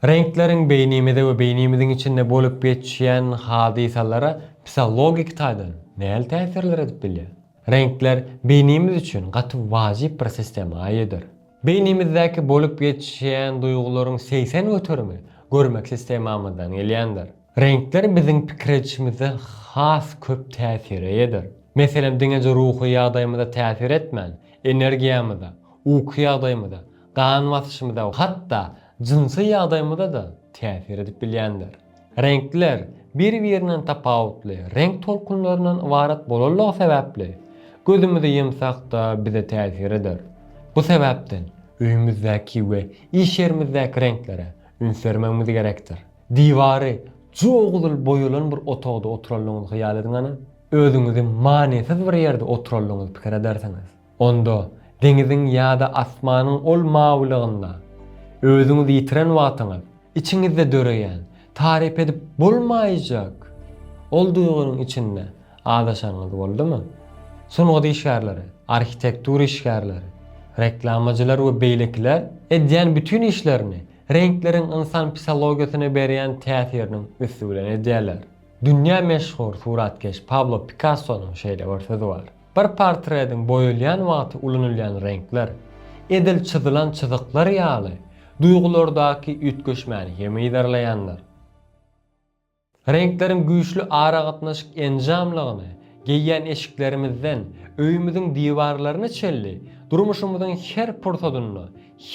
Reňkleriň beýnimize we beýnimiziň içinde bolup geçýän hadysalara psihologik taýdan nähili täsir döredip bilýär? Reňkler beýnimiz üçin gaty wajyp bir sistema eýedir. Beýnimizdäki bolup geçýän duýgularyň segsen göterimi görmek sistemamyzdan gelýändir. Reňkler biziň pikir edişimizde has köp täsir eýedir. Meselem, diňeje ruhy ýagdaýymyza täsir etmän, energiýamyza, uky ýagdaýymyza, Gan basyşymyza, hatda jynsy ýagdaýymyza-da täsir edip bilýändir. Reňkler bir-birinden tapawutly reňk tolkunlaryndan ybarat bolanlygy sebäpli, gözümize ýumsak-da bize täsir eder. Bu sebäpden öýümizdäki we iş ýerimizdäki reňklere üns bermegimiz gerekdir. Diwary jogzul boýalan bir otagda oturanlygyňyzy hyýal ediňani. Özüňizi manysyz bir ýerde oturanlygyňyzy pikir edersiňiz. Onda deňiziň ýa-da asmanyň ol mawylygynda özüňizi ýitiren wagtyňyz, içiňizde döreýän, taryp edip bolmaýjak ol duýgynyň içinde azaşanyňyz boldumy? Sungat işgärleri, arhitektura işgärleri, reklamajylar we beýlekiler edýän bütin işlerini reňkleriň ynsan psihologiýasyna berýän täsiriniň üsti bilen edýärler. Dünýä meşhur suratkeş Pablo Pikassonyň şeýle bir sözi bar. Bir portretiň boýalýan wagty ulanylýan reňkler, edil çyzylan çyzyklar ýaly, duýgulardaky üýtgeşmäni hem yzarlaýandyr. Reňkleriň güýçli aragatnaşyk enjamlygyny geýýän eşiklerimizden öýümiziň diwarlaryna çenli durmuşymyzyň her pursadynda,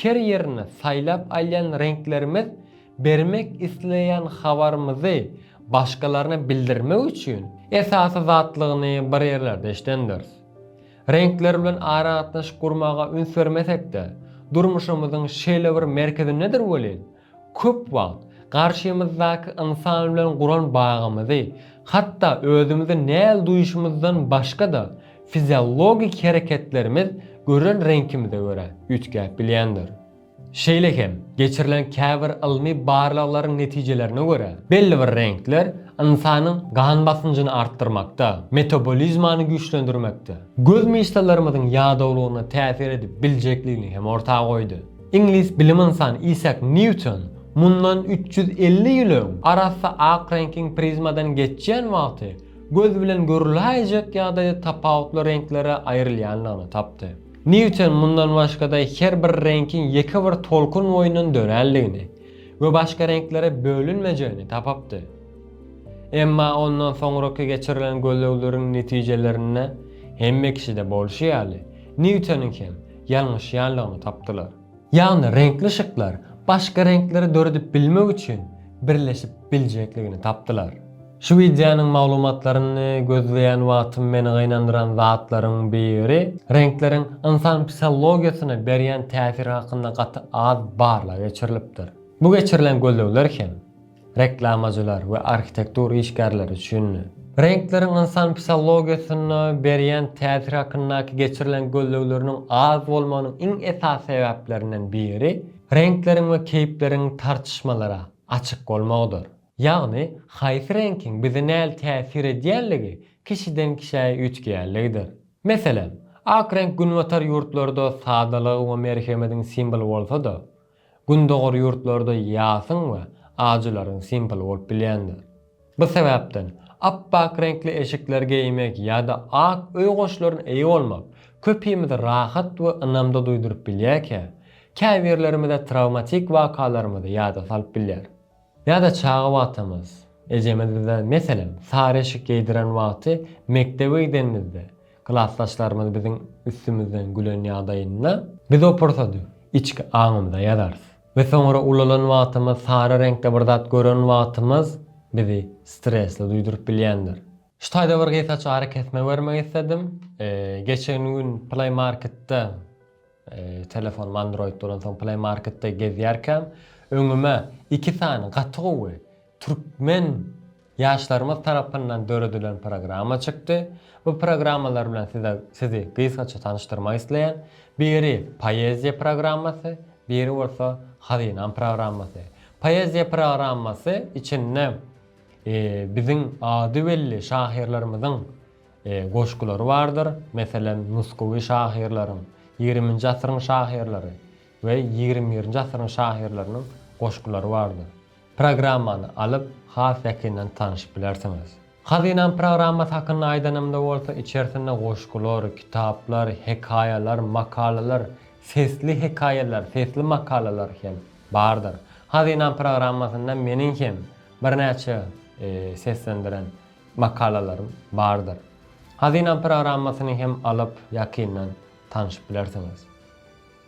her ýerinde saýlap alýan reňklerimiz Bermek isleýän habarymyzy başgalaryna bildirmek üçin esasy zatlygyny bir ýerlerde eşidendiris. Reňkler bilen aragatnaşyk gurmaga üns bermesek-de, durmuşymyzyň şeýle bir merkezindedir welin, köp wagt garşymyzdaky ynsan bilen guran bagymyzy, hatda özümizi näl duýuşymyzdan başga-da fiziologik hereketlerimiz gören reňkimize görä üýtgäp bilýändir. Şeýle hem, geçirilen käbir ylmy barlaglaryň netijelerine görä, belli bir reňkler ynsanyň gan basynjyny artdyrmakda, metabolizmany güýçlendirmekde, göz myşsalarymyzyň ýadawlygyna täsir edip biljekligini hem orta goýdy. Iňlis bilim ynsany Isak Nýuton mundan üç ýüz elli ýyl öň arassa ak reňkiň prizmadan geçýän wagty göz bilen görüläýjek ýagdaýda tapawutly reňklere aýrylýandygyny tapdy. Nýuton mundan başga-da her bir reňkiň ýeke bir tolkun boýundan dörändigini we başga reňklere bölünmejegini tapypdy. Emma ondan soňraky geçirilen gözlegleriň netijelerinde hemme kişide bolşy ýaly, Nýutonyň hem ýalňyşýanlygyny tapdylar. Ýagny reňkli şyklar başga reňkleri döredip bilmek üçin birleşip biljekligini tapdylar. Şu wideonyň maglumatlaryny gözleýän wagtym meni gynandyran zatlaryň biri, reňkleriň ynsan psihologiýasyna berýän täsiri hakynda gaty az barlag geçirilipdir. Bu geçirilen gözlegler hem reklamajylar we arhitektur işgärleri üçindi. Reňkleriň ynsan psihologiýasyna berýän täsiri hakyndaky geçirilen gözlegleriniň az bolmagynyň iň esasy sebäplerinden biri, reňkleriň we keýpleriň tartyşmalara açyk bolmagydyr. Ýagny, haýsy reňkiň bize näl täsir edýänligi kişiden-kişä üýtgeýänligidir. Meselem, ak reňk günbatar ýurtlarda sadalygyň we merhemediň simwoly bolsa-da, gündogar ýurtlarda ýasyň we ajylaryň simwoly bolup bilýändir. Bu sebäpden, apbak reňkli eşikler geýmek ýa-da ak öý goşlaryna eýe bolmak köpimize rahat we ynamda duýduryp bilýärkä, käbirlerimize trawmatik wakalarymyzy ýada salyp bilýär. Ýa-da çaga wagtamyz. Ejemiz bize, meselem, sary eşik geýdiren wagty mekdebe gidenimizde, klasdaşlarymyz biziň üstümizden gülen ýagdaýynda, biz o pursady içki aňymyza ýazarys we soňra ulalan wagtymyz, sary reňkde bir zat gören wagtymyz bizi stresli duýduryp bilýändir. Şu taýda bir gysgaça arakesme bermek isledim. Geçen gün Play Marketde Telefonym Android bolansoň Play Marketde gezýärkäm, öňüme iki sany gaty gowy türkmen ýaşlarymyz tarapyndan döredilen programma çykdy. Bu programmalar bilen size sizi gysgaça tanyşdyrmak isleýän. Biri Poeziýa programmasy, biri bolsa Hazynam programmasy. Poeziýa programmasy içinde biziň ady belli şahyrlarymyzyň Goşgulary bardyr, meselem, nusgawy şahyrlaryň, ýigriminji asyryň şahyrlary we ýigrimi birinji asyryň şahyrlarynyň goşgulary bardyr. Programmany alyp, has ýakyndan tanyşyp bilersiňiz. Hazynam programmasy hakynda aýdanymda bolsa, içerisinde goşgular, kitaplar, hekaýalar, makalalar, sesli hekaýalar, sesli makalalar hem bardyr. Hazynam programmasynda meniň hem birnäçe seslendiren makalalarym bardyr. Hazynam programmasyny hem alyp ýakyndan tanşyp bilersiňiz.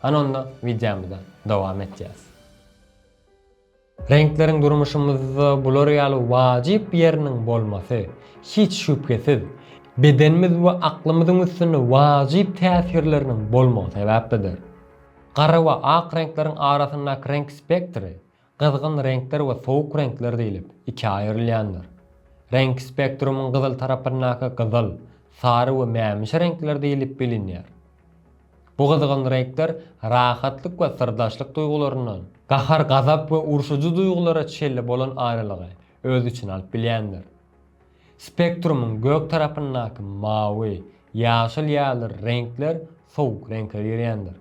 Hany onda wideomyza dowam etýäs. Reňkleriň durmuşymyzda bular ýaly wajyp ýeriniň bolmasy, hiç şübhesiz, bedenimiz we aklymyzyň üstünde wajyp täsirleriniň bolmagy sebäplidir. Gara we ak reňkleriň arasyndaky reňk spektri Gyzgyn reňkler we sowuk reňkler diýlip ikä aýrylýandyr. Reňk spektrumyň gyzyl tarapyndaky gyzyl, sary we mämişi reňkler diýlip bilinýär. Bu gyzgyn reňkler rahatlyk we syrdaşlyk duýgularyndan, gahar-gazap we urşujy duýgulara çenli bolan aýralygy öz içine alyp bilýändir. Spektrumyň gök tarapyndaky mawy, ýaşyl ýaly reňkler sowuk reňke girýändir.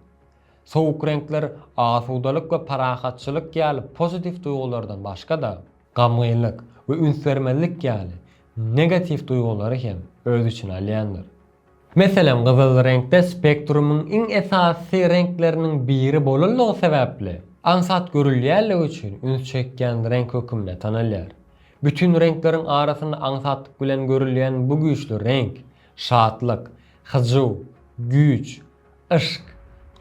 Sowuk reňkler asudalyk we parahatçylyk ýaly pozitiw duýgulardan başga-da, gamgynlyk we üns bermezlik ýaly negatiw duýgulary hem öz içine alýandyr. Meselem, gyzyl reňkde spektrumyň iň esasy reňkleriniň biri bolanlygy sebäpli, aňsat görülýänligi üçin üns çekýän reňk hökümde tanalýar. Bütin reňkleriň arasynda aňsatlyk bilen görülýän bu güýçli reňk, şatlyk, hyjuw, güýç, Yşk,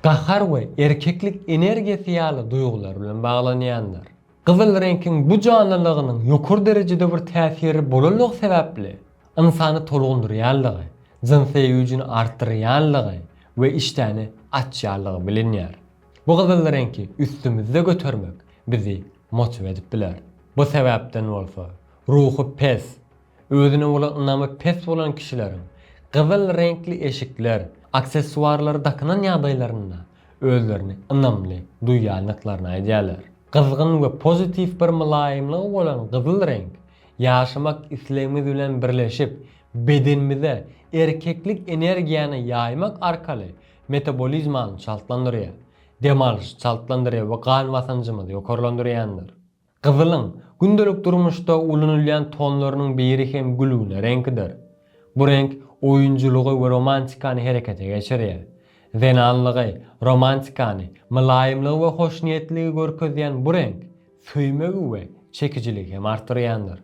gahar we erkeklik energiýasy ýaly duýgular bilen baglanýandyr. Gyzyl reňkiň bu janlylygynyň ýokary derejede bir täsirli bolanlygy sebäpli, ynsany tolgundyrýanlygy, jynsy güýjüni artdyrýanlygy we işdäni açýanlygy bilinýär. Bu gyzyl reňki üstümizde götermek bizi motiw edip biler. Bu sebäpden bolsa, ruhy pes, Özüne bolan ynamy pes bolan kişileriň gyzyl reňkli eşikler, aksessuarlary dakynan ýagdaýlarynda özlerini ynamly duýýandyklaryny aýdýarlar. Gyzgyn we pozitiw bir mylaýymlygy bolan gyzyl reňk, ýaşamak islegimiz bilen birleşip, bedenimize erkeklik energiýany ýaýmak arkaly metabolizmany çaltlandyrýar, dem alyşy çaltlandyrýar we gan basanjymyzy ýokarlandyrýandyr. Gyzylyň gündelik durmuşda ulanylýan tonlarynyň biri hem gülgüne reňkidir. Bu reňk oýunjylygy we romantikany herekete geçirýär. Zenanlygy, romantikany, mylaýymlygy we hoşniýetliligi görkezýän bu reňk söýmegi we çekijiligi hem artdyrýandyr.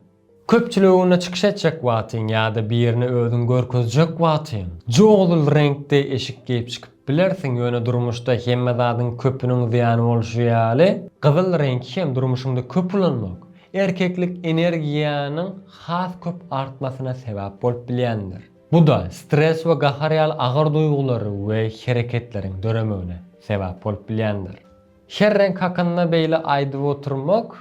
Köpçüligiň öňünde çykyş etjek wagtyň ýa-da birine özüňi görkezjek wagtyň, jogdul reňkde eşik geýip çykyp bilersiň, ýöne durmuşda hemme zadyň köpüniň zyýany bolşy ýaly, gyzyl reňki hem durmuşyňda köp ulanmak, erkeklik energiýanyň has köp artmasyna sebäp bolup bilýändir. Bu-da stres we gahar ýaly agyr duýgulary we hereketleriň döremegine sebäp bolup bilýändir. Her reňk hakynda beýle aýdyp oturmak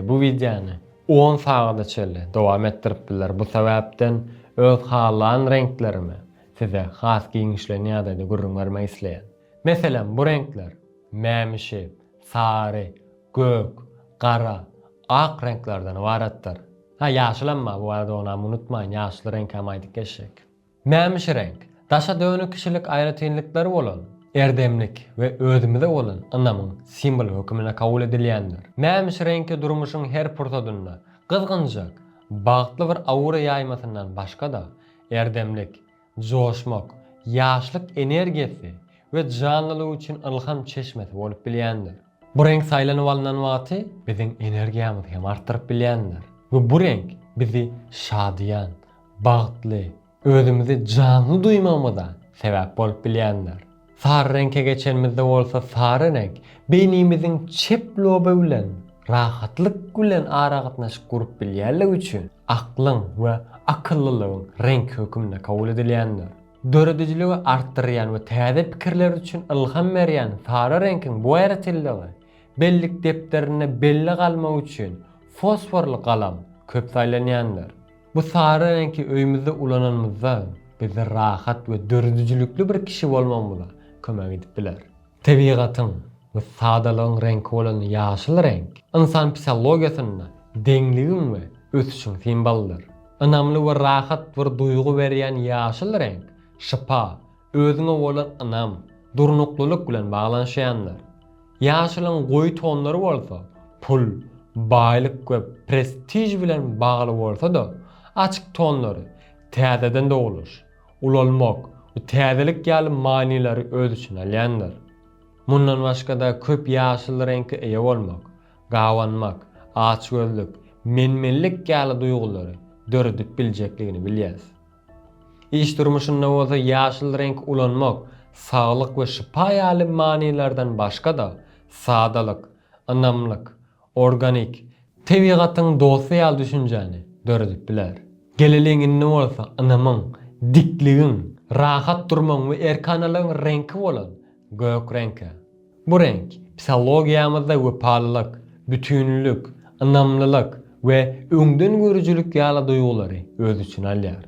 bu wideony on sagada çenli dowam etdirip biler. Bu sebäpden öz halan reňklerimi size has giňişleýin ýagdaýda gürrüň bermek isleýän. Meselem bu reňkler, mämişi, sary, gök, gara, ak reňklerden ybaratdyr. Ha ýaşyl emma bu barada onam unutmaýyn ýaşyl reňkäm aýdyp geçjek. Mämişireňk, daşa dönük kişilik aýratynlyklary bolan, erdemlik we özümize bolan ynamyň simwoly höküminde kabul edilýändir. Mämişireňki durmuşyň her pursadynda gyzgynjak, bagtly bir aura ýaýmasyndan başga-da, erdemlik, joşmak, ýaşlyk energiýasy we janlylyk üçin ylham çeşmesi bolup bilýändir. Bu reňk saýlanyp alnan wagty biziň energiýamyzy hem artdyryp bilýändir we bu reňk bizi şadyýan, bagtly, özümizi janly duýmagymyza sebäp bolup bilýändir. Sary reňke geçenimizde bolsa sary reňk beýnimiziň çep loby bilen rahatlyk bilen aragatnaşyk gurup bilýänligi üçin aklyň we akyllylygyň reňki höküminde kabul edilýändir. Döredijiligi artdyrýan we täze pikirler üçin ylham berýän sary reňkiň bu aýratynlygy bellik depderinde belli galmagy üçin fosforly galam köp saýlanýandyr. Bu sary reňki öýümizde ulananymyzda bizi rahat we döredijilikli bir kişi bolmagymyza kömek edip biler. Tebigatyň we sadalygyň reňki bolan ýaşyl reňk ynsan psihologiýasynda deňligiň we ösüşiň simbolydyr. Ynamly we rahat bir duýgy berýän ýaşyl reňk şypa, özüňe bolan ynam, durnuklylyk bilen baglanyşýandyr. Ýaşylyň goýy tonlary bolsa pul, baýlyk we prestiž bilen bagly bolsa-da, açyk tonlary, täzeden dogluş, Ulalmak, bu täzelik ýaly manylary öz içine alýandyr. Mundan başga-da köp ýaşyl reňke eýe bolmak, gabanmak, açgözlük, men-menlik ýaly duýgulary döredip biljekdigini bilýäs. Iş durmuşynda bolsa ýaşyl reňki ulanmak saglyk we şypa ýaly manylardan başga-da, sadalyk, ynamlyk, Organik, tebigatyň dosty ýaly düşünjäni döredip biler. Geleliň indi bolsa ynamyň, dikligiň, rahat durmagyň we erkanalygyň reňki bolan gök reňke. Bu reňk psihologiýamyzda wepalylyk, bütinlik, ynamlylyk we öňdengörüjilik ýaly duýgulary öz içine alýar.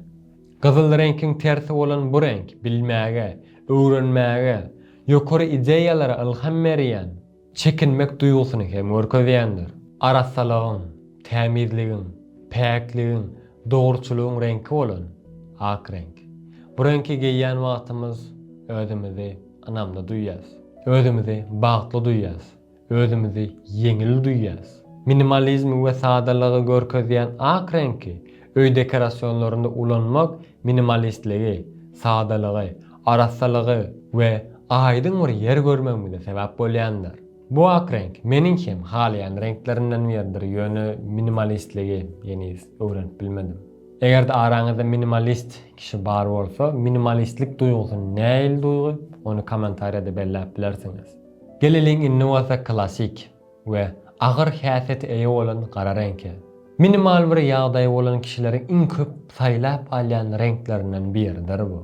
Gyzyl reňkiň tersi bolan bu reňk bilmäge, öwrenmäge, ýokary ideýalara ylham berýän, Çekinmek duýgusyny hem görkezýändir. Arassalygyň, tämizligiň, päkligiň, dogruçylygyň reňki bolan ak reňk. Bu reňki geýýän wagtymyz özümizi ynamly duýýas. Özümizi bagtly duýýas. Özümizi ýeňil duýýas. Minimalizmi we sadalygy görkezýän ak reňki öý dekorasionlarynda ulanmak Minimalistligi, sadalygy, arassalygy we aýdyň bir ýer görmegimize sebäp bolýandyr. Bu ak reňk meniň hem halaýan reňklerimden biridir, ýöne minimalistligi heniz öwrenip bilmedim. Eger-de araňyzda minimalist kişi bar bolsa, minimalistlik duýgusy nähili duýgy, ony kommentariýada belläp bilersiňiz. Geleliň indi bolsa klasik. we agyr häsiýete eýe bolan gara reňke. Minimal bir ýagdaýy bolan kişileriň iň köp saýlap alýan reňklerinden biridir bu.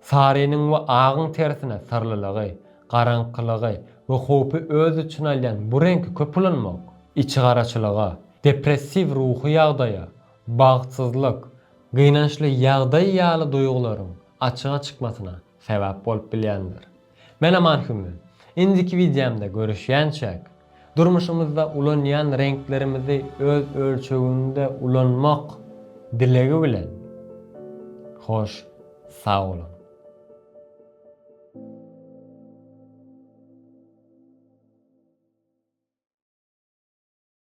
Sarynyň we agyň tersine syrlylygy, garaňkylygy we howpy öz içine alýan bu reňki köp ulanmak, içigaraçylyga, depressiw ruhy ýagdaýa, bagtsyzlyk, gynançly ýagdaý ýaly duýgularyň açyga çykmasyna sebäp bolup bilýändir. Men Aman Hümmi. Indiki wideomda görüşýänçäk, durmuşymyzda ulanýan reňklerimizi öz ölçeginde ulanmak dilegi bilen, hoş sag boluň!